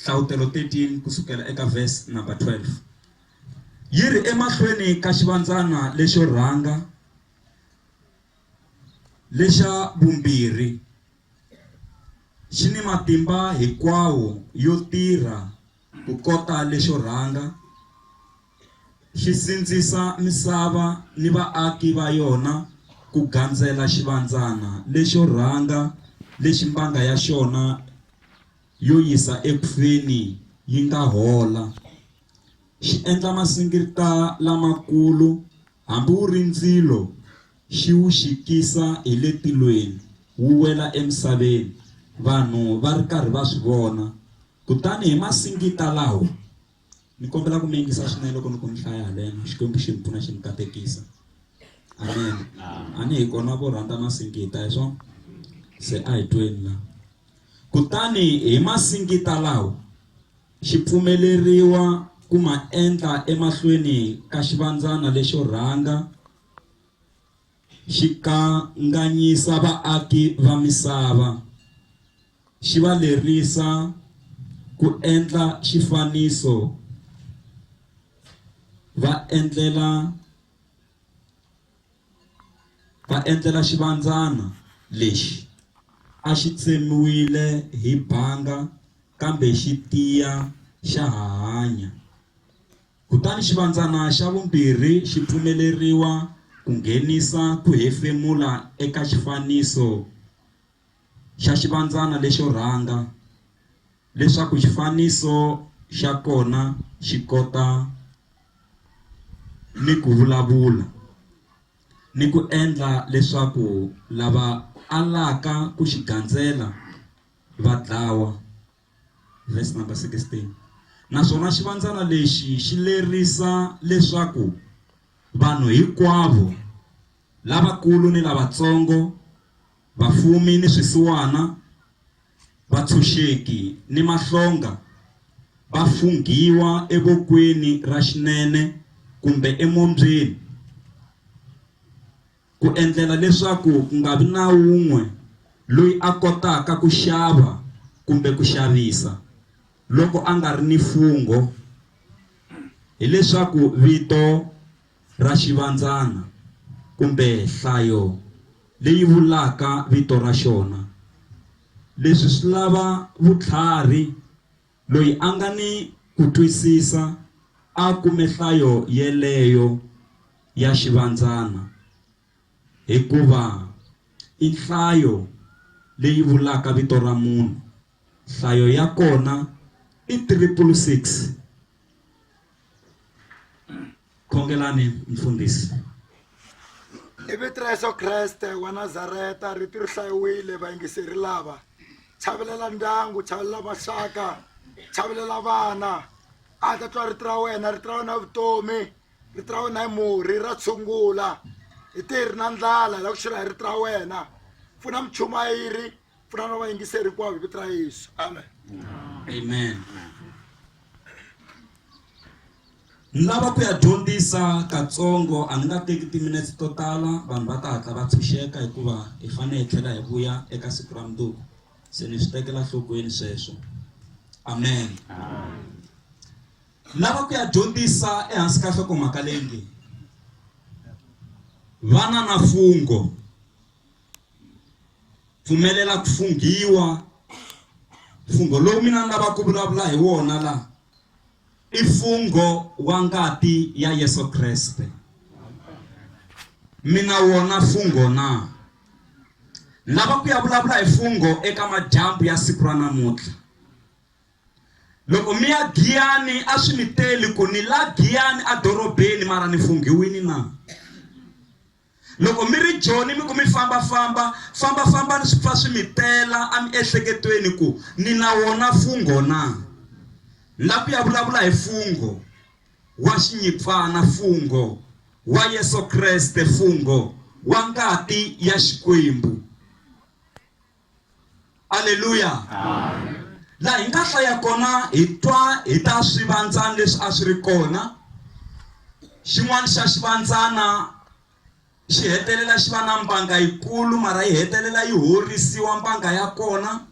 Hlavutelo 13 ku sukela eka verse number 12 yi ri emahlweni ka xivandzana lexo rhanga lexa vumbirhi xi ni matimba hinkwawo yo tirha ku kota lexo rhanga Xi sindzisa misava ni vaaki va yona ku gandzela xivandzana lexo rhanga lexi mbanga ya xona yo yisa eku feni yi nga hola. Xi endla masingita lamakulu, hambi wu ri ndzilo xi wu xikisa hi le tilweni wu wela emisaveni, vanhu va ri karhi va swi vona. Kutani hi masingita lawa. Ni kombela ku mi yingisa swinene loko ni ku ni hlaya haleno Xikwembu xi ni pfuna xi ni katekisa amen a ni hi kona vo rhandza masingita hi swona se a hi tweni la kutani hi masingita lawo xi pfumeleriwa ku ma endla emahlweni ka xivandzana lexo rhanga xi kanganyisa vaaki va misava, xi va lerisa ku endla xifaniso va endlela va endlela xivandzana lexi a xi tsemiwile hi banga kambe xi tiya xa ha hanya. Kutani xivandzana xa vumbirhi xi pfumeleriwa ku nghenisa ku hefemula eka xifaniso xa xivandzana lexo rhanga leswaku xifaniso xa kona xi kota ni ku vulavula ni ku endla leswaku lava alaka ku xi gandzela va dlawa. Verse number 16. Naswona xivandzana lexi xi lerisa leswaku vanhu hinkwavo lavakulu ni lavatsongo, vafumi ni swisiwana, vatshunxeki ni mahlonga va funghiwa evokweni ra xinene kumbe emombyeni. ku endlela leswaku ku nga vi na wun'we loyi a kotaka ku xava kumbe ku xavisa loko a nga ri ni fungho hi leswaku vito ra xivandzana kumbe hlayo leyi vulaka vito ra xona. Leswi swi lava vutlhari Loyi a nga ni ku twisisa a kume hlayo yeleyo ya xivandzana, hikuva i nhlayo leyi vulaka vito ra munhu, nhlayo ya kona i triple six. khongelani mfundhisi hi vito ra yesu kreste wa nazareta rito ri hlayiwile vayingiseri lava chavelela ndyangu chavelela maxaka chavelela vana a ta twa rito ra wena rito ra wena vutomi rito ra wena hi murhi ra tshungula hi tirhi na ndlala hi lava ku xirha hi rito ra wena pfuna muchumayiri pfunana na vayingiseri hinkwavo hi vito ra yesu amen amen ni lava ku ya dyondzisa katsongo a ni nga teki timinetse to tala vanhu va ta hatla va tshunxeka hikuva hi fanele hi tlhela hi vuya eka siku ra mundzuku se ni swi tekela nhlokweni sweswo amen lava ku ya dyondzisa ehansi ka nhlokomhaka leyi nge vana na fungo pfumelela ku funghiwa mfungho lowu mina ni lava ku vulavula hi wona la i mfungho wa ngati ya Yesu Kreste mina wona mfungho na lava ku ya vulavula hi mfungho eka madyambu ya siku ra namuntlha loko mi ya giyani a swi mi teli ku ni la giyani edorobeni mara ni funghiwini na Loko mi ri joni mi ku mi famba-famba, famba-fambani swi pfa swi mi tela amiehleketweni ku ni na wona fungho na. Ni lava ku ya vulavula hi fungho wa xinyipfana, fungho wa Yesu Kreste, fungho wa ngati ya Xikwembu. aleluya laha hi nga hlaya kona hi twa hi ta swivandzana leswi a swi ri kona xin'wana xa xivandzana xi hetelela xi va na mbanga yikulu mara yi hetelela yi horisiwa mbanga ya kona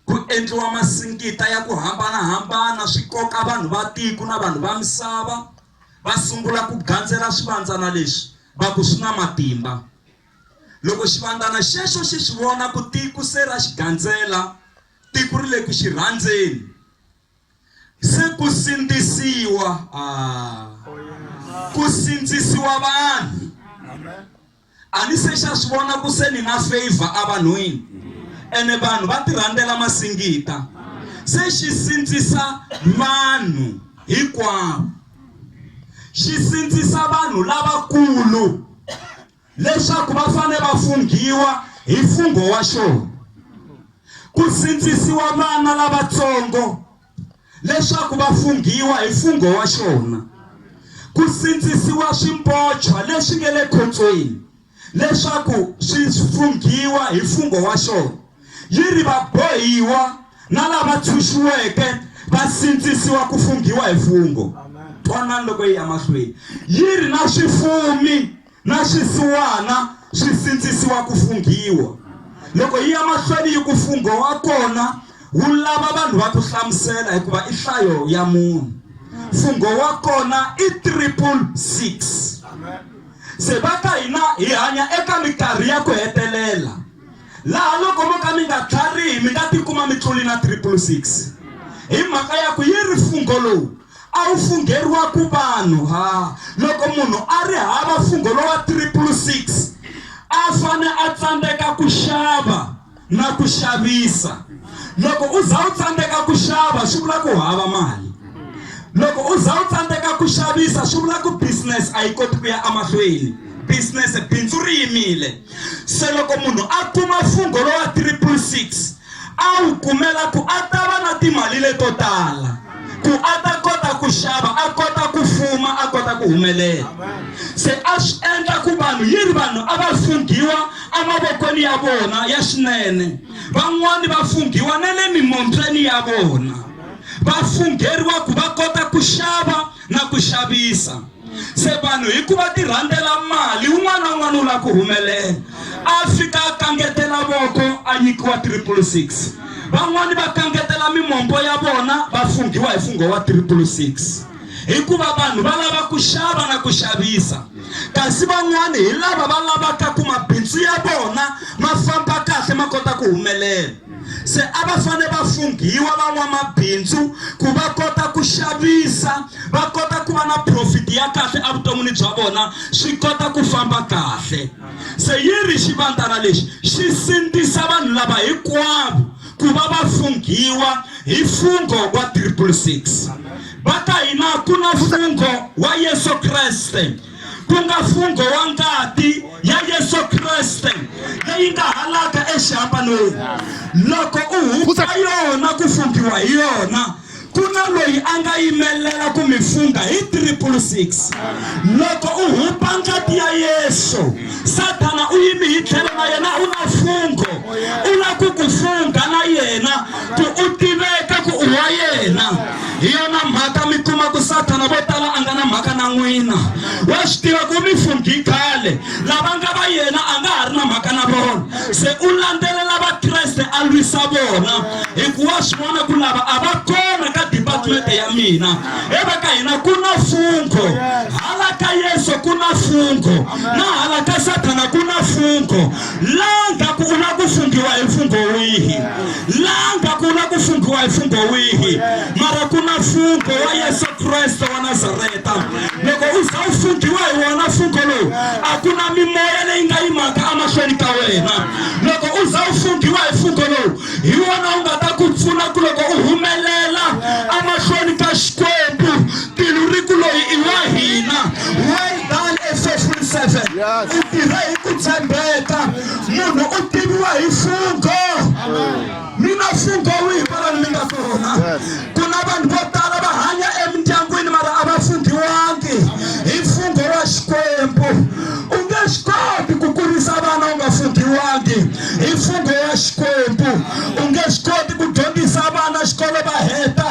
ku endliwa masingita ya ku hambanahambana swi koka vanhu va tiko na vanhu va misava va sungula ku gandzela swivandzana leswi va ku swi na matimba Loko xivandlana xexo xi swi vona ku tiku se ra xi gandzela, tiku ri le ku xi rhandzeni, se ku sindzisiwa, aah, ku sindzisiwa vanhu. A ni se xa swi vona ku se ni na favor evanhwini, ene vanhu va tirhandzela masingita. Se xi sindzisa vanhu hinkwavo, xi sindzisa vanhu lavakulu. leswaku va fane va funghiwa hi mfungho wa xona ku sindzisiwa vana lavatsongo leswaku va funghiwa hi mfungho wa xona ku sindzisiwa swimbotshwa leswi nge le khombyeni leswaku swi funghiwa hi mfungho wa xona Yi ri, Vabohiwa na lava tshunxiweke va sindzisiwa ku funghiwa hi fungho. Twanani loko yi ya mahlweni. Yi ri, Na swifumi na swisiwana swi sindzisiwa ku funghiwa. Loko yi ya mahlweni yi ku, Fungho wa kona wu lava vanhu va ku hlamusela hikuva i hlayo ya munhu. Fungho wa kona i triple six. Se va ka hina hi hanya eka mikarhi ya ku hetelela. Laha loko mo ka mi nga tlharihi mi nga tikuma mi tluli na Triple Six hi mhaka ya ku yi ri fungho lowu a wu fungheriwa ku vanhu ha loko munhu a ri hava fungho lowa Triple Six a fane a tsandzeka ku xava na ku xavisa loko u za u tsandzeka ku xava swi vula ku hava mali loko u za u tsandzeka ku xavisa swi vula ku business a yi koti ku ya emahlweni business bindzu ri yimile. Se loko munhu a kuma mfungho lowa triple six, a wu kumela ku a ta va na timali leto tala ku a ta kota ku xava, a kota ku fuma, a kota ku humelela. Se a swi endla ku vanhu yi ri vanhu a va funghiwa emavokweni ya vona ya xinene, van'wana va funghiwa na le mimombyeni ya vona, va fungheriwa ku va kota ku xava na ku xavisa. Se vanhu hi ku va ti rhandzela mali, un'wana na un'wana u lava ku humelela. A fika a kangetela voko a nyikiwa triple six. Van'wana va kangetela mimombo ya vona va funghiwa hi fungho wa triple six. Hikuva vanhu va lava ku xava na ku xavisa, kasi van'wana hi lava va lavaka ku mabindzu ya vona ma famba kahle ma kota ku humelela. Se a va fane va funghiwa van'wamabindzu ku va kota ku xavisa, va kota ku va na profit ya kahle evuton'wini bya vona, swi kota ku famba kahle. Se yi ri xivandzana lexi xi sindzisa vanhu lava hinkwavo ku va va funghiwa hi mfungho wa triple six. Va ka hina ku na mfungho wa Yesu Kreste. ku nga mfungho wa ngati ya Yesu Kriste leyi nga halaka exihambanweni loko u hundza yona ku funghiwa hi yona ku na loyi a nga yimelela ku mi fungha hi 666 loko u hupa ngati ya yesu sathana u yimi hi tlhelo na yena u na fungho u lava ku ku fungha na yena ku u tiveka ku u wa yena hi yona mhaka mi kuma ku sathana vo tala a nga na mhaka na n'wina wa swi tiva ku mi funghi khale lava nga va yena a nga ha ri na mhaka na vona se u landzelela vakreste a lwisa vona hikuva swi vona ku lava a va kona ka departmente ya mina eva ka hina ku na fungho hala ka yesu ku na fungho na hala ka sathana ku na fungho langa ku u la ku funghiwa hi mfungho wihi langa ku u la ku funghiwa hi mfungho wihi mara ku na mfungho wa yesu kreste wa nazareta loko u za u funghiwa hi wona mfungho lowu a ku na mimoya leyi nga yimaka emahlweni ka wena loko u za u funghiwa hi mfungho lowu hi wona u nga ta ku pfuna ku loko u humelela emahlweni ka xikwembu Tilu ri ku loyi i wa hina. Well done faithful servant. Yes. U tirhe hi ku tshembeka. Munhu u tiviwa hi fungo. Mi na fungo wihi kwalani mi nga kona? Ku na vanhu vo tala va hanya emindyangwini mara a va funghiwangi hi fungo wa Xikwembu. U nge swi koti ku kurisa vana u nga funghiwangi hi fungo wa Xikwembu. U nge swi koti ku dyondzisa vana xikolo va heta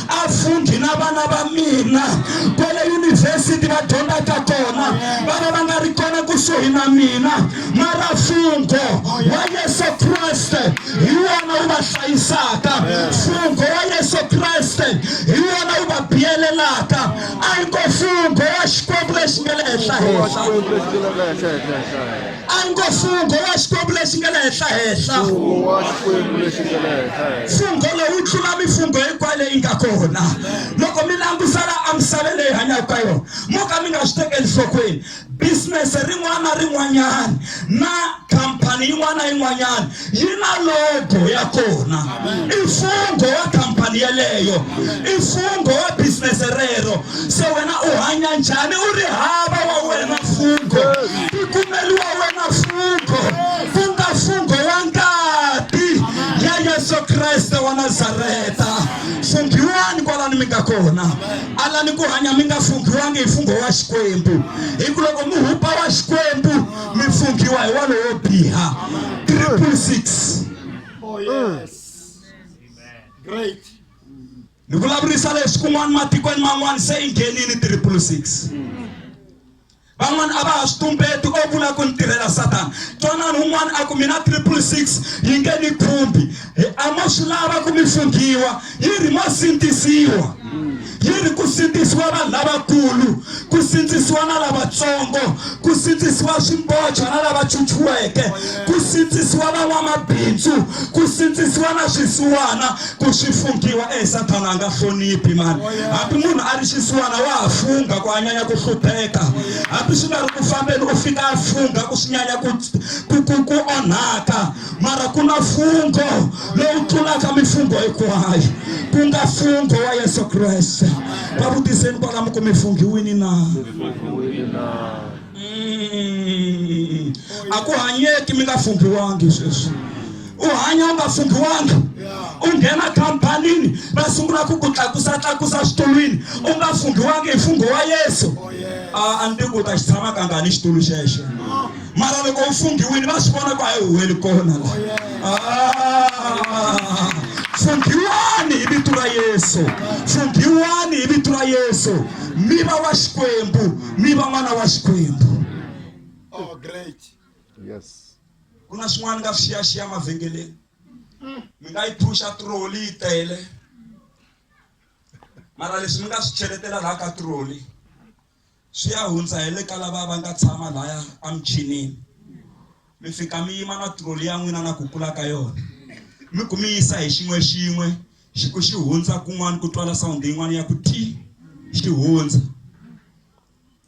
vafundi na vana va mina kwale yunivhesiti va dyondzaka kona va va va nga ri kona kusuhi na mina mara mfungo wa yesu kreste hi wona wu va hlayisaka mfungo wa yesu kreste hi wona wu va biyelelaka a yi ko mfungo wa xikwembu lexi nge le henhla henhla A ngo mfungho wa Xikwembu lexi nga le henhlahenhla. Mfungho wa Xikwembu lexi nga le henhlahenhla. Mfungho lowu wu tlula mifungho hinkwayo leyi nga kona. Loko mi langutisela emisaveni leyi hanyaka ka yona, mo ka mi nga swi tekeli nhlokweni, bizinese rin'wana na rin'wanyana na khampani yin'wana na yin'wanyana yi na logo ya kona i mfungho wa khampani yeleyo i mfungho wa bizinese rero se wena u hanya njhani u ri hava wa wena mfungho ti kumeliwa wena mfungho ku nga mfungho wa ngati ya yesu kreste wa nazareta funghiwani kwalani mi nga kona alani ku hanya mi nga funghiwangi hi mfungho wa xikwembu hi ku loko mi hupa wa xikwembu mi pfumbiwa hi wa lowo biha triple six oh, ni vulavurisa leswi kun'wana matikweni man'wana se i nghenini triple six van'wana a va ha swi tumbeti o vula ku ni tirhela satana twanani un'wana a ku mina triple six yi nge ni khumbi Hi ama swi lava ku mi funghiwa yi ri mo sindzisiwa yi ri ku sindzisiwa vanhu lavakulu ku sindzisiwa na lavatsongo ku sindzisiwa swimboja na lava chuchiweke ku sindzisiwa van'wamabindzu ku sindzisiwa na swisiwana ku swi funghiwa e sathana a nga hloniphi mani hambi munhu a ri xisiwana wa ha fungha ku a nyanya ku hlupheka hambi swi nga ri ku fambeni u fika a fungha ku swi nyanya ku onhaka mara kuna fungo lowu tlulaka mifungo hinkwayo ku nga fungo wa yesu kreste va vutiseni kwalamu ku mi funghiwini na mm. a ku hanyeki mi nga funghiwangi sweswi u hanya u nga funghiwangi u nghena khampanini va sungula ku ku tlakusa tlakusa xitulwini u nga funghiwangi hi fungho wa yesu oh, a a ni tiku u ta xi tshama kangani xitulu xexo mara loko u funghiwile va swi vona ku a yi huweli kona la ah, funghiwani hi vito ra yesu funghiwani hi vito ra yesu mi va wa xikwembu mi va n'wana wa xikwembu oh, great yes ku na swin'wana nga swiyaxiya mavhengeleni mi nga yi phusha troli yi tele mara leswi mi nga swi cheletela laha ka troli swi ya hundza hi le ka lava va nga tshama laya a michinini mi fika mi yima na troli ya n'wina na ku kula ka yona mi ku mi yisa hi xin'we xin'we xi ku xi hundza kun'wana ku twala sawundi yin'wana ya ku ti xi hundza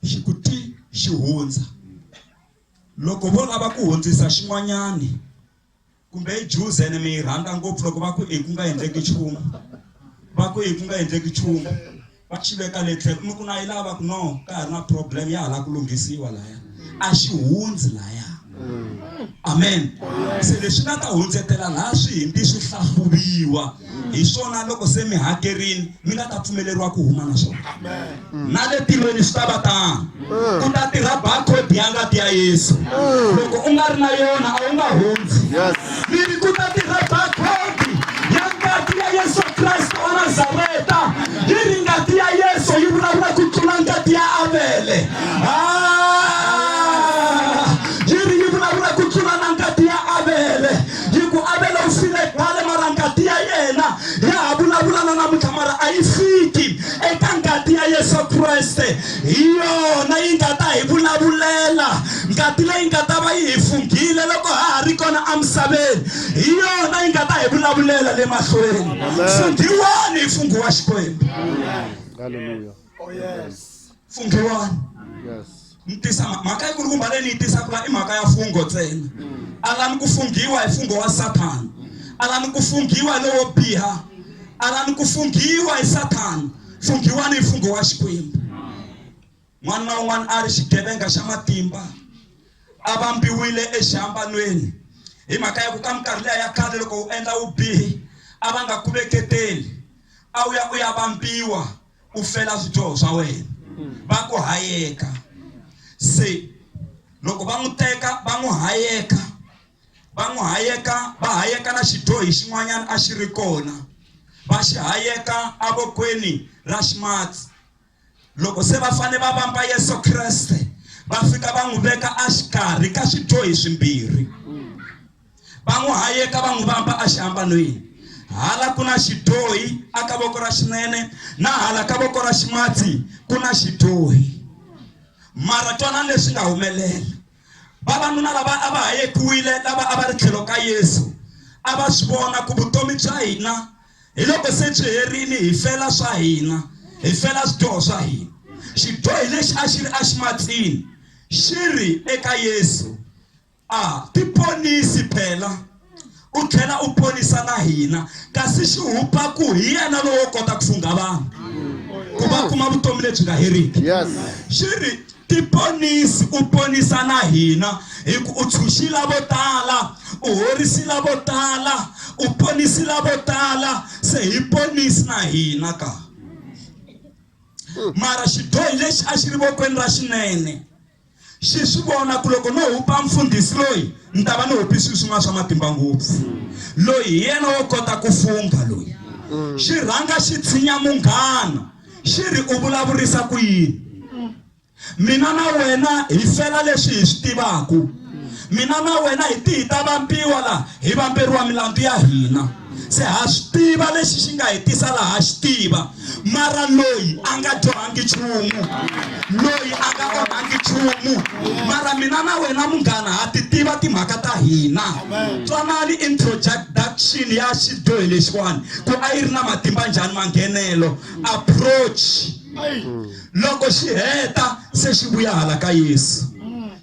xi ku ti xi hundza loko vo lava ku hundzisa xin'wanyani kumbe i juze ene mi yi rhandza ngopfu loko va ku i ku nga endleki nchumu va ku i ku nga endleki nchumu va xi veka le tlhelo mi ku na yi lava ku no ka ha ri na problem ya hala ku lunghisiwa laya a xi hundzi laya amen se leswi nga ta hundzetela laha swihimbi swi hlahluviwa hi swona loko se mi hakerile mi nga ta pfumeleriwa ku huma na swona mm. na le tilweni swi ta va tano mm. ku ta tirha barcode ya ngati ya yesu mm. loko u nga ri na yona a wu nga hundzi mi ri ku ta tirha barcode ya ngati ya yesu kreste wa nazareta yi ri ngati ya yesu yi vulavula ku tlula ngati ya avele ah! hi ku Avele u file khale mara ngati ya yena ya ha vulavula na namuntlha mara a yi fiki eka ngati ya Yesu Kreste hi yona yi nga ta hi vulavulela ngati leyi nga ta va yi hi funghile loko ha ha ri kona emisaveni hi yona yi nga ta hi vulavulela le mahlweni funghiwani hi funghiwa Xikwembu Hallelujah. oh yes fungiwani yes ni tisa mhaka yi kulukumba leyi ni yi tisaka la i mhaka ya fungo ntsena a la ni ku funghiwa hi fungo wa sathana a la ni ku funghiwa hi lowo biha a la ni ku funghiwa hi sathana funghiwani hi fungo wa xikwembu n'wana na un'wana a ri xigevenga xa matimba a vambiwile exihambanweni hi mhaka ya ku ka minkarhi leya ya khale loko u endla vubihi a va nga ku veketeli a wu ya u ya vambiwa u fela swidyoho swa wena va ku hayeka se loko va n'wi teka va n'wi hayeka va n'wi hayeka va hayeka na xidyohi xin'wanyana a xi ri kona va xi hayeka avokweni ra ximatsi loko se va fanele va vamba yesu kreste va fika va n'wi veka a xikarhi ka swidyohi swimbirhi Va n'wi hayeka va n'wi vamba axihambanweni. Hala ku na xidyohi a ka voko ra xinene na hala ka voko ra ximatsi ku na xidyohi. Mara twanani leswi nga humelela. Vavanuna lava a va hayekiwile lava a va ri tlhelo ka Yesu a va swi vona ku vutomi bya hina hi loko se byi herile hi fela swa hina, hi fela swidyoho swa hina. Xidyohi lexi a xi ri aximatsini xi ri eka Yesu. a tiponisi phela u tlhela u ponisa na hina kasi xihupaku hi yena lowo kota ku fungha vanhu ku va kuma vutomi lebyi nga heriki xi ri tiponisi u ponisa na hina hi ku u tshunxila vo tala u horisila vo tala u ponisila vo tala se hi ponisi na hina ka mara xidyohi lexi a xi ri vokweni ra xinene xi swi vona ku loko no hupa mfundhisi loyi ni ta va ni hupi swilo swin'wana swa matimba ngopfu loyi hi yena wo kota ku fungha loyi xi rhanga xi tshinya munghana xi ri u vulavurisa ku yini mina na wena hi fela leswi hi swi tivaku mina na wena hi tihi ta vambiwa laha hi vamberiwa milandzu ya hina se ha swi tiva lexi xi nga hi tisa laha xi tiva mara loyi a nga dyohangi nchumu loyi a nga onhangi nchumu mara mina na wena munghana ha ti tiva timhaka ta hina twanani introduction ya xidyohi lexiwani ku a yi ri na matimba njhani manghenelo approach loko xi heta se xi vuya hala ka yesu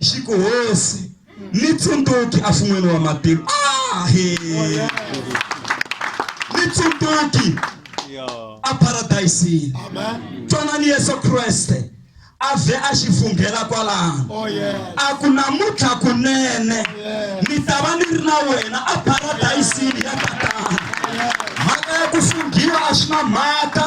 xi ku hosi Nitsundzuki a swi n'wini wa matimu ah, he. nitsundzuki a paradayisini twanani yesu kreste a vhe a xi funghela kwalano oh, a ku namuntlha kunene ni ta va ni ri na wena a paradayisini ya tatana mhaka ya ku funghiwa a swi na mhaka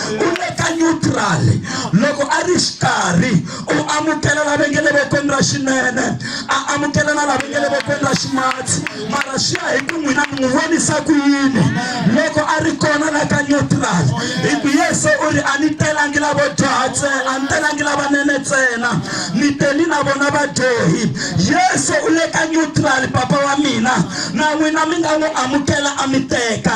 u le ka neutral loko a ri xikarhi u amukela lava nge le vokweni ra xinene a amukela na lava nge le vokweni ra ximatsi mara swi ya hi ku n'wina mi n'wi vonisa ku yini loko a ri kona la ka neutral hi ku yesu u ri a ni telangi lavo dyoha ntsena a ni telangi lavanene ntsena ni teni na vona vadyohi yesu u le ka neutral papa wa mina na n'wina mi nga n'wi amukela a mi teka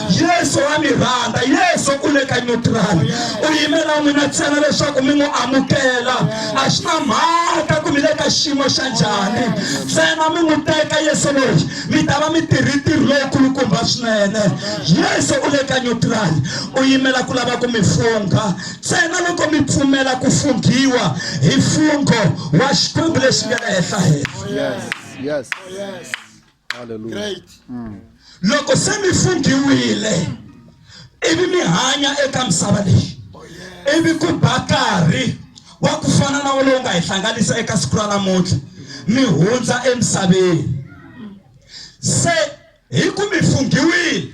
yesu wa mi rhandza yesu u le ka nyutirali u yimela n'wina ntsena leswaku mi n'wi amukela a swi na mhaka ku mi le ka xiyimo xa njhani ntsena mi n'wi teka yesu loyi mi ta va mi tirhi ntirho lowukulukumba swinene yesu u le ka nyutirali u yimela ku lava ku mi fungha ntsena loko mi pfumela ku funghiwa hi fungho wa xikwembu lexi nga le henhla henhla yes. Yes. Oh, yes. great loko se mi funghiwile ivi mi hanya eka misava leyi ivi ku ba karhi wa ku fana na wo lowu nga hi hlanganisa eka siku ra namuntlha mi hundza emisaveni se hi ku mi funghiwile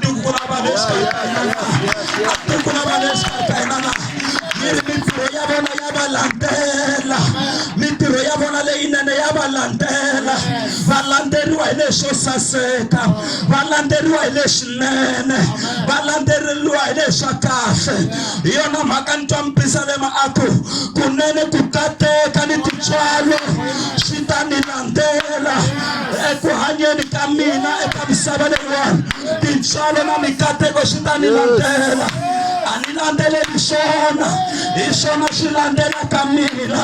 tiko ku lava le xikarhi ka hina na a tiko ku lava le xikarhi ka hina na yi ri mintirho ya vona ya va landzela mintirho ya vona leyinene ya va landzela va landzeriwa hi leswo saseka va landzeriwa hi leswinene va landzeriwa hi leswa kahle hi yona mhaka ni twa mpisa le maaku kunene ku tateka ni tintswalo swi ta ni landzela eku hanyeni ka mina eka misava leyiwani tintswalo na mikateko swi ta ni landzela a ni landzeleli swona hi swona swi landzela ka mina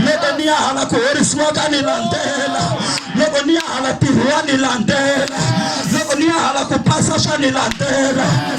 loko ni ya hala ku horisiwa ka ni landzela loko ni ya hala tirhiwa ni landzela loko ni ya hala ku pasa swa ni landzela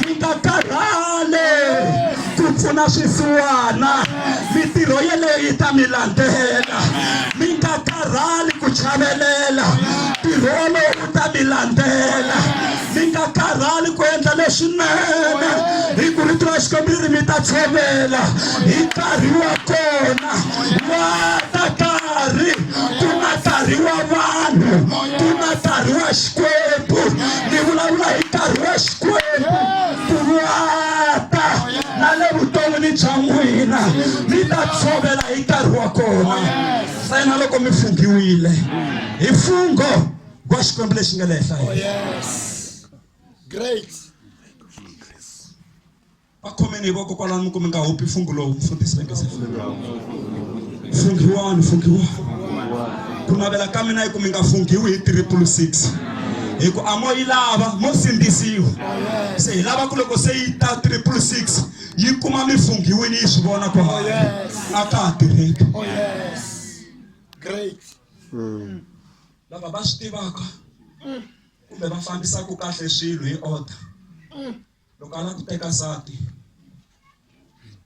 hi nga karhali ku pfuna swisiwana mitirho yeleyo yi ta mi landzela mi nga karhali ku chavelela ntirho wolowo wu ta mi landzela mi nga karhali ku endla leswinene hi ku rito ra xikwembu ri mi ta tshovela hi nkarhi wa kona wa ta karhi ku nga karhi wa vanhu ku nga karhi wa xikwembu ni vulavula hi nkarhi wa xikwembu ku vuata na le vuton'wini bya n'wina mi ta tshovela hi nkarhi wa kona ntsena loko mi funghiwile hi mfungho wa xikwembu lexi nga le henhla hehla va khomeni hi voko kwalano mi ku mi nga hopi fungu lowu mfundhisi vengese funghiwani funghiwani ku navela ka mina hi ku mi nga funghiwi hi triple six hi ku amo yi lava mo sindzisiwa se hi lava ku loko se yi ta triple six yi kuma mi funghiwini yi swi vona ku oh, a ka ha tirheki oh, hmm. lava va swi tivaka kumbe va fambisaka kahle swilo hi order loko a lava ku teka nsati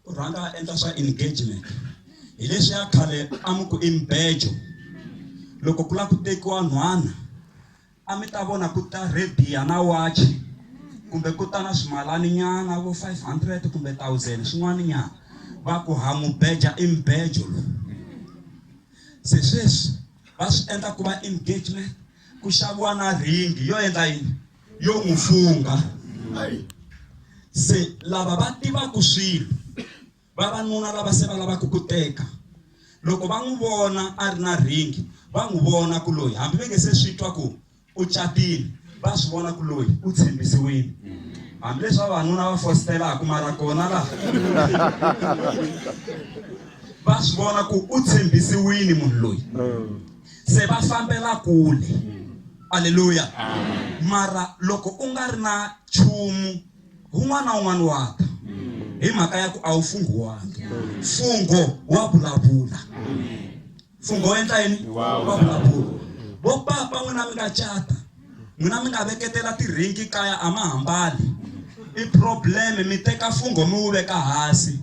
u rhanga a endla swa engagement hi leswi ya khale a mi ku i mbejo loko ku lava ku tekiwa nhwana a mi ta vona ku ta rediya na watch kumbe ku ta na swimalani nyana vo 500 kumbe 1000 swin'wana nyana va ku ha mubeja i mbejo lowu se sweswi va swi endla ku va engagement ku xaviwa na ringi yo endla yini yo n'wi fungha se lava va tivaka swilo vavanuna lava se va lavaka ku teka loko va n'wi vona a ri na ringi va n'wi vona ku loyi hambi va nge se swi twa ku u catile va swi vona ku loyi u tshembisiwile hambileswi vavanuna va fositelaka mara kona laha va swi vona ku u tshembisiwile munhu loyi mm. se va fambela kule aleluya mara loko u nga ri na chumu un'wana na un'wana wa ta hi mhaka ya ku a wu funghiwangi mfungho wa vulavula mfungho wa endla yini wa vulavula vo papa n'wina mi nga cata n'wina mi nga veketela tiringi kaya a ma hambali i problem mi teka mfungho mi wu veka hansi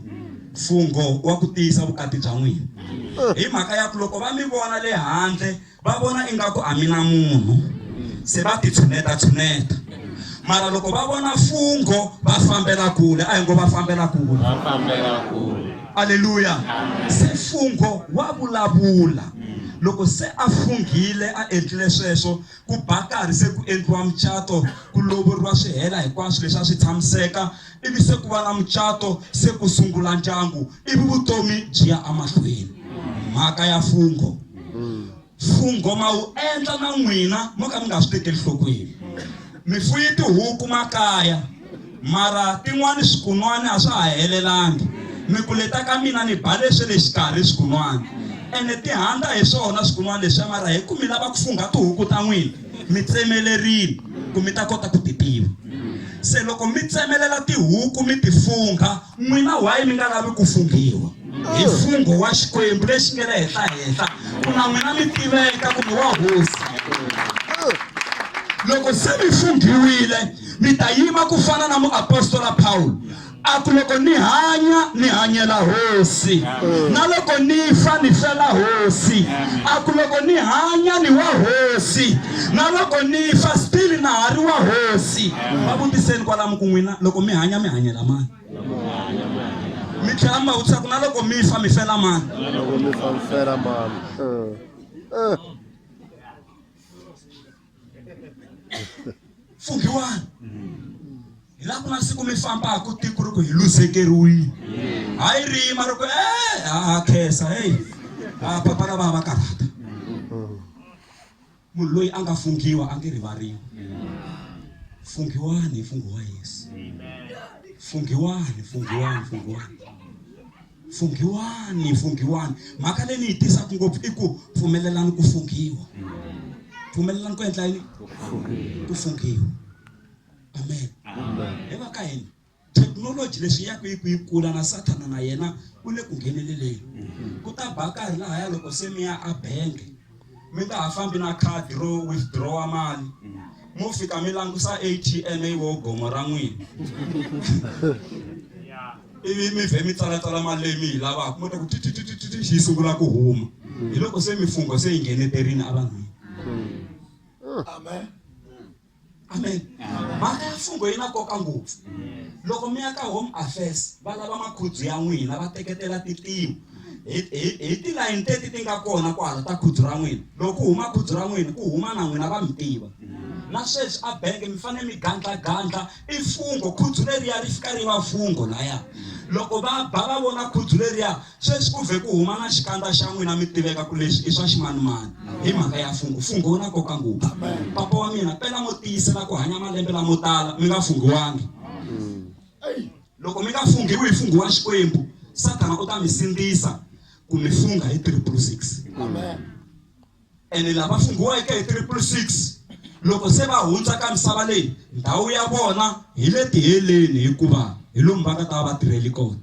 mfungho wa ku tiyisa vukati bya n'wina hi mhaka ya ku loko va mi vona le handle va vona ingaku a mi na munhu se va titshuneta-tshuneta mara loko va vona fungo va fambela kule a hi ngo va fambela kule aleluya se fungo wa vulavula loko se a funghile a endlile sweswo ku ba karhi se ku endliwa mucato ku lovoriwa swi hela hinkwaswo leswi a swi tshamiseka ivi se ku va na mucato se ku sungula ndyangu ivi vutomi byi ya amahlweni mhaka ya fungho fungho ma wu endla na n'wina mo ka mi nga swi tekeli nhlokweni mi fuye tihuku makaya mara tin'wani swikun'wani a swa ha helelangi mi ku leta ka mina ni ba leswi le xikarhi swikun'wani ene ti handza hi swona swikun'wani leswiya mara hi ku mi lava ku fungha tihuku ta n'wina mi tsemelerile ku mi ta kota ku ti tiva se loko mi tsemelela tihuku mi ti fungha n'wina wayi mi nga lavi ku funghiwa hi oh. mfungho wa xikwembu lexi nge le henhlahenhla ku na n'wina mi tiveka kumbe wa hosi oh. loko se mi funghiwile mi ta yima ku fana na muapostola pawulo A ku, Loko ni hanya, ni hanyela Hosi, na loko ni fa, ni fela Hosi. A ku, Loko ni hanya, ni wa Hosi, na loko ni fa, still na ha ri wa Hosi. Va vutiseni kwalamu ku, N'wina loko mi hanya, mi hanyela mani? Mi tlhela mi va vutisa ku, Na loko mi fa, mi fela mani? Na loko mi fa, mi fela mani? pfumbiwani hi laha ku nga siku mi fambaka tiko ri ku hi luzekeriwile hayi rima ri ku e ha khensa heyi a papa lava va karhata munhu loyi a nga funghiwa a nge rivariwi funghiwani hi funghiwa yesu funghiwani funghiwani funghiwani funghiwani funghiwani mhaka leyi ni yi tisaka ngopfu i ku pfumelelani ku funghiwa pfumelelani ku endla yini ku funghiwa amen hi va ka hina thekinoloji leswi ya ku yi ku yi kula na sathana na yena u le ku ngheneleleni ku ta ba karhi lahaya loko se mi ya a bangi mi nga ha fambi na khadi ro withdrawa mali mo fika mi langusa atm wo gomo ra n'wina ivi mi vhe mi tsalatsala mali leyi mi yi lavaka mo ta ku tititititi yi sungula ku huma hi loko se mifungho se yi ngheneterini evanhwini amen amen mhaka ya mfungho yi na nkoka ngopfu loko mi ya ka home affairs va lava makhudzu ya n'wina va teketela titimu hi tilayini teti ti nga kona kwala ta khudzu ra n'wina loko ku huma khudzu ra n'wina ku huma na n'wina va mi tiva na sweswi a bangi mi fanele mi gandlagandla i mfungho khudzu leriya ri fika ri va mfungho laya loko va ba va vona khudzu leriya Sweswi ku vhe ku huma na xikandza xa n'wina mi tiveka ku leswi i swa ximanimani hi mhaka ya mfungho. Mfungho wu na nkoka ngopfu. Papa wa mina, pela mo tiyisela ku hanya malembe lamo tala mi nga funghiwangi. Loko mi nga funghiwi hi mfungho wa Xikwembu, Sathana u ta mi sindzisa ku mi fungha hi triple six. Ene lava funghiweke hi triple six loko se va hundza ka misava leyi, ndhawu ya vona hi le tiheleni hikuva hi lomu va nga ta va va tirhele kona.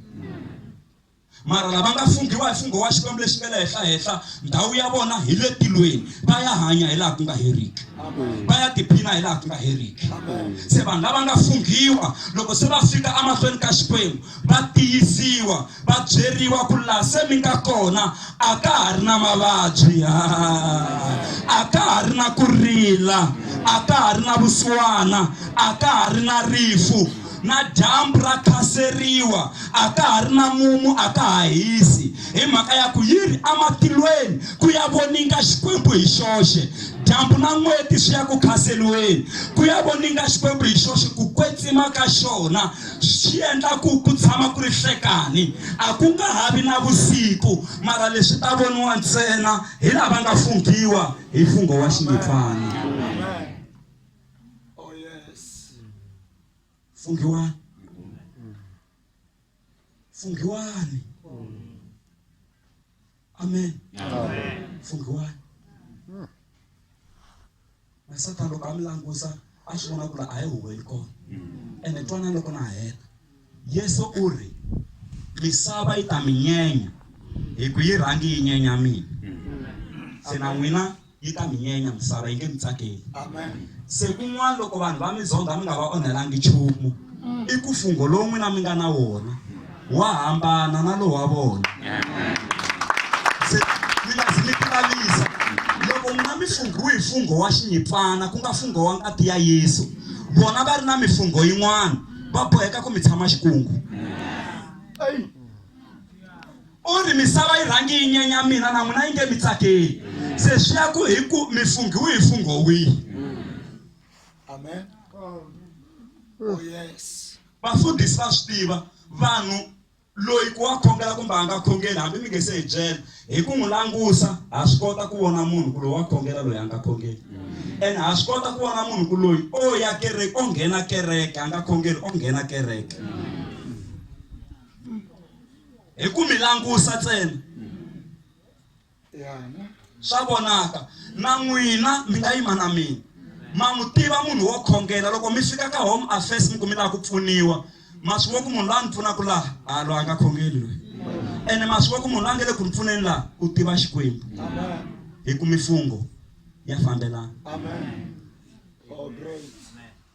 Mara lava nga funghiwa hi fungho wa Xikwembu lexi nga le henhla-henhla, ndhawu ya vona hi le tilweni. Va ya hanya hi laha ku nga heriki. Va ya tiphina hi laha ku nga heriki. Se vanhu lava nga funghiwa, loko se va fika emahlweni ka Xikwembu, va tiyisiwa, va byeriwa ku laha se mi nga kona a ka ha ri na mavabyi, a ka ha ri na ku rila, a ka ha ri na vusiwana, a ka ha ri na rifu. Na dyambu ra khaseriwa, a ka ha ri na mumu, a ka ha hisi, hi mhaka ya ku yi ri ematilweni ku ya voninga Xikwembu hi xoxe. Dyambu na n'weti swi ya ku khaseriweni ku ya voninga Xikwembu hi xoxe. Ku kwetsima ka xona swi endla ku ku tshama ku ri nhlekani, a ku nga ha vi na vusiku, mara leswi ta voniwa ntsena hi lava nga funghiwa hi mfungho wa xinghipfana. fungiwani fungiwani amen fungiwani na satan loko a mi langusa a swi vona ku la a yi huweli kona ene twana loko na heta yesu u ri misava yi ta mi nyenya hi ku yi rhangi yi nyenya mina se na n'wina yi ta mi nyenya misava yi nge mi tsakeli se kun'wana loko vanhu va mi zonda mi nga va onhelangi nchumu mm. i ku fungho lowu n'wina mi nga na wona wa hambana na lowu wa vona se mi nga zi mi tilavisa loko n'wina mi funghiwe hi fungho wa xinyipfana ku nga fungho wa ngati ya yesu vona va ri na mifungho yin'wana va boheka ku mi tshama xikungu U ri, Misava yi rhange yi nyenya mina, na n'wina yi nge mi tsakeli. Se swi ya ku hi ku mi funghiwe hi mfungho wihi. Amen. Oh, yes. Vafundhisi va swi tiva, vanhu loyi ku wa khongela kumbe a nga khongeli hambi mi nge se hi byela hi ku n'wi langusa ha swi kota ku vona munhu ku loyi wa khongela loyi a nga khongeli ene ha swi kota ku vona munhu ku loyi o ya kereke o nghena kereke a nga khongeli o nghena kereke hi ku mi langusa ntsena swa vonaka na n'wina mi nga yima na mina ma n'wi tiva munhu wo khongela loko mi fika ka home affairs mi ku mi lava ku pfuniwa ma swi vo ku munhu la ni pfunaka laha a loyi a nga khongeli loyi ene ma swi vo ku munhu la nge le ku ni pfuneni laha u tiva xikwembu hi ku mifungho ya fambelana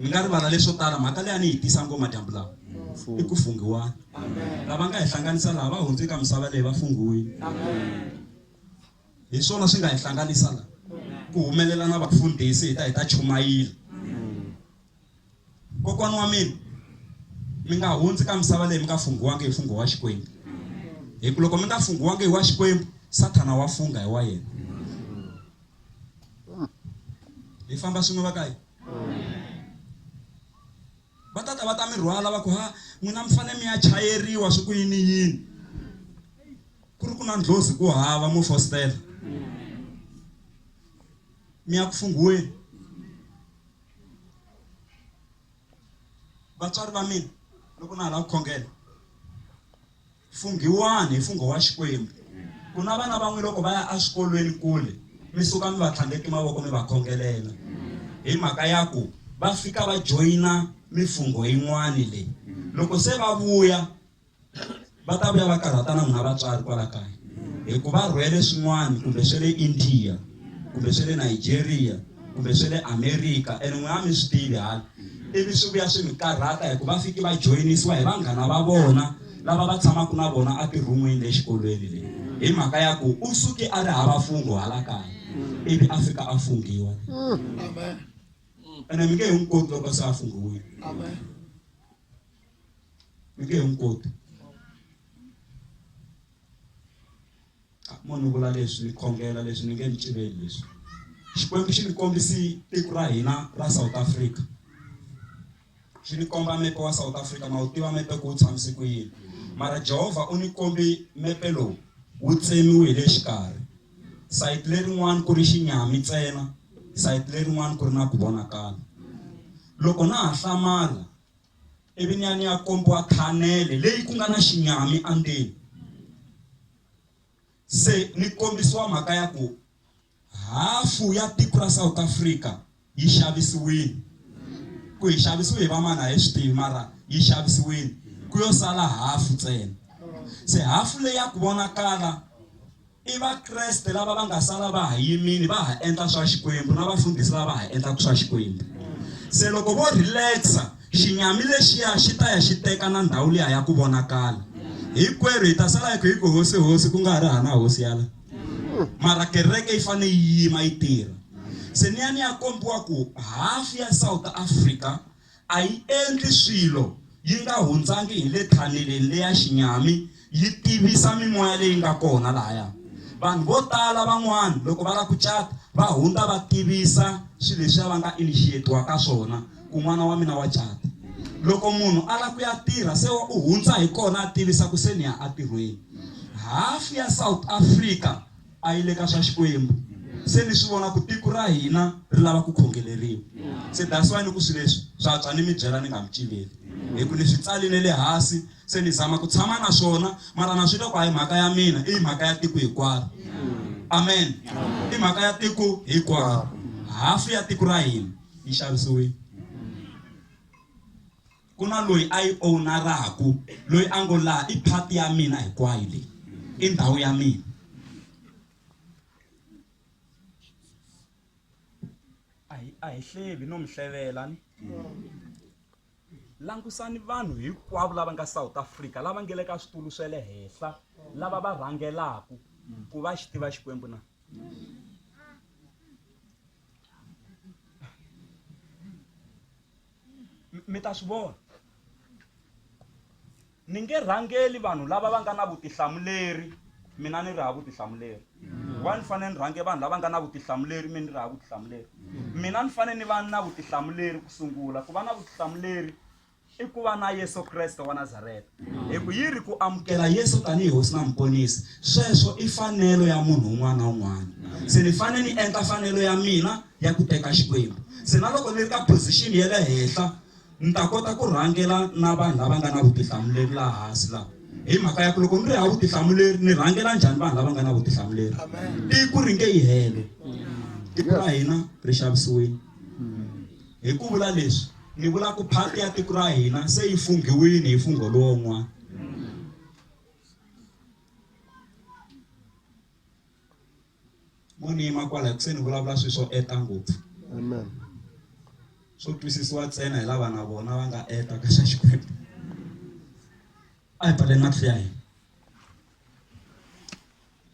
Hi nga rivala leswo tala mhaka leyi a ni yi tisa ngoma dyambu lawa i ku funghiwani lava nga hi hlanganisa laha va hundze ka misava leyi va funghiwini hi swona swi nga hi hlanganisa laha ku humelela na vafundhisi hi ta hi ta chumayila kokwana wa mina mi nga hundzi ka misava leyi mi nga funghiwangi hi fungho wa xikwembu hi ku loko mi nga funghiwangi hi wa xikwembu sathana wa fungha hi wa yena hi famba swin'we va ka yi va ta ta va ta mi rhwala va ku ha n'wina mi fanele mi ya chayeriwa swi ku yini yini ku ri ku na ndlozi ku hava mo fostela mi ya ku funghiweni vatswari va mina loko na ha lava ku khongela Funghiwani hi mfungho wa Xikwembu. Ku na vana van'we loko va ya eswikolweni kule, mi suka mi va tlhandleke mavoko mi va khongelela. Hi mhaka ya ku va fika va joyina mifungho yin'wani leyi. Loko se va vuya, va ta vuya va karhata na n'wina vatswari kwala kaya. Hi ku va rhwele swin'wani kumbe swa le India, kumbe swa le Nigeria, kumbe swe le amerika and n'wina a mi swi tivi hala ivi swi vuya swi mi karhata hi ku va fiki va joyinisiwa hi vanghana va vona lava va tshamaka na vona a tirhumwini le xikolweni leyi hi mhaka ya ku u suke a ri hava fungo hala kaya ivi a fika a fungiwa ene mi nge hi n'wi koti loko se a fungiwile mi nge hi n'wi koti Mo ni vula leswi ni khongela leswi ni nge ni civeli leswi Xikwembu xi ni kombisi tiko ra hina ra South Africa xi ni komba mepe wa South Africa ma wu tiva mepe ku wu tshamise ku yini mara Jehovha u ni kombi mepe lowu wu tsemiwe hi le xikarhi sayiti lerin'wani ku ri xinyami ntsena sayiti lerin'wani ku ri na ku vonakala loko na ha hlamala ivi ni ya ni ya kombiwa khanele leyi ku nga na xinyami andzeni se ni kombisiwa mhaka ya ku hafu ya tiko ra south africa yi xavisiwile ku yi xavisiwe hi vamani a hi swi tivi mara yi xavisiwile ku yo sala hafu ntsena se hafu leyi ya ku vonakala I Vakreste lava va nga sala va ha yimile va ha endla swa Xikwembu na vafundhisi lava ha endlaka swa Xikwembu. Se loko vo relax-a xinyami lexiya xi ta ya xi teka na ndhawu liya ya ku vonakala. Hinkwerhu hi ta sala hi kha hi ku hosi hosi ku nga ha ri hana hosi yala. Mara kereke yi fanele yi yima yi tirha. Se ni ya ni ya kombiwa ku half ya South Africa A yi endli swilo yi nga hundzangi hi le thaneleni leya xinyami yi tivisa mimoya leyi nga kona lahaya. Vanhu vo tala van'wana loko va lava ku cata va hundza va tivisa swilo leswiya va nga initiate-wa ka swona ku n'wana wa mina wa cata. Loko munhu a lava ku ya tirha se u hundza hi kona a tivisa ku se ni ya entirhweni. Hafu ya South Africa, a yi le ka swa Xikwembu. Se ni swi vona ku tiko ra hina ri lava ku khongeleriwa. Se that's why ni ku swi leswi swa twa ni mi byela ni nga mi cileli. Hi ku ni swi tsali ne le hasi se ni zama ku tshama na swona mara na swi twa ku a hi mhaka ya mina i mhaka ya tiko hikwaro. Amen. I mhaka ya tiko hikwaro. Hafu ya tiko ra hina yi xavisiwile. ku na loyi a yi ownaraku loyi a ngo laha i phati ya mina hinkwayo leyi i ndhawu ya mina a hi hlevi no mi hlevela ni langusani vanhu hinkwavo lava nga south africa lava nge le ka switulu swa le henhla lava va rhangelaka ku va xi tiva xikwembu na M- mi ta swi vona ni nge rhangeli vanhu lava va nga na vutihlamuleri mina ni ri ha vutihlamuleri wa ni fanele ni rhange vanhu lava nga na vutihlamuleri mi ni ri ha vutihlamuleri mina ni fanele ni va na vutihlamuleri ku sungula ku va na vutihlamuleri i ku va na yesu kreste wa nazareta Hi ku yi ri ku amukela Yesu tanihi Hosi na Muponisi, sweswo i fanelo ya munhu un'wana na un'wana. Se ni fanele ni endla fanelo ya mina ya ku teka Xikwembu. Se na loko ni ri ka phozixini ya le henhla, ni ta kota ku rhangela na vanhu lava nga na vutihlamuleri laha hansi laha. Hi mhaka ya ku loko ni ri hava vutihlamuleri, ni rhangela njhani vanhu lava nga na vutihlamuleri? Tiko ri nge yi hele. Tiko ra hina ri xavisiwile. Hi ku vula leswi, ni vula ku phati ya tiko ra hina se yi funghiwini hi mfungho lowun'wana. Mo ni yima kwala hi ku se ni vulavula swilo swo eta ngopfu. Amen. Swo twisisiwa ntsena hi lava na vona va nga eta ka xa Xikwembu. A hi pfaleni matihlo ya hina.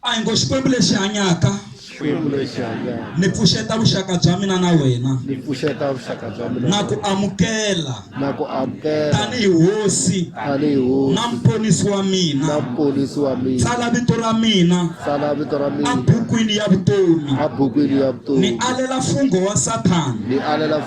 a hi ngo xikwembu lexi hanyaka xikwembu lexi hanyaka ni pfuxeta vuxaka bya mina na wena ni pfuxeta vuxaka bya mina na ku amukela na ku amukela tanihi hosi tanihi hosi na mponisi wa mina na mponisi wa mina tsala vito ra mina tsala vito ra mina abukwini ya vutomi abukwini ya vutomi ni alela mfungo wa sathana ni alela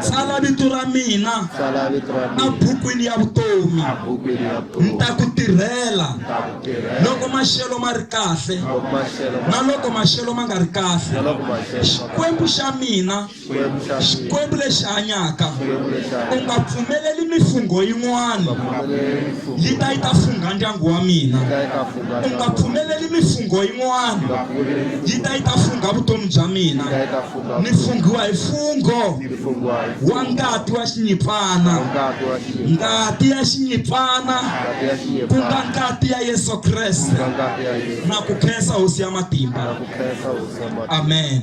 Tsala vito ra mina ebukwini ya vutomi ni ta ku tirhela loko maxelo ma ri kahle na loko maxelo ma nga ri kahle xikwembu xa mina xikwembu lexi hanyaka u nga pfumeleli mifungho yin'wana yi ta yi ta fungha ndyangu wa mina u nga pfumeleli mifungho yin'wana yi ta yi ta fungha vutomi bya mina ni funghiwa hi fungho wa ngati wa xinyipfana ngati ya xinyipfana ku nga ngati ya yesu kreste na ku khensa hosi ya matimba amen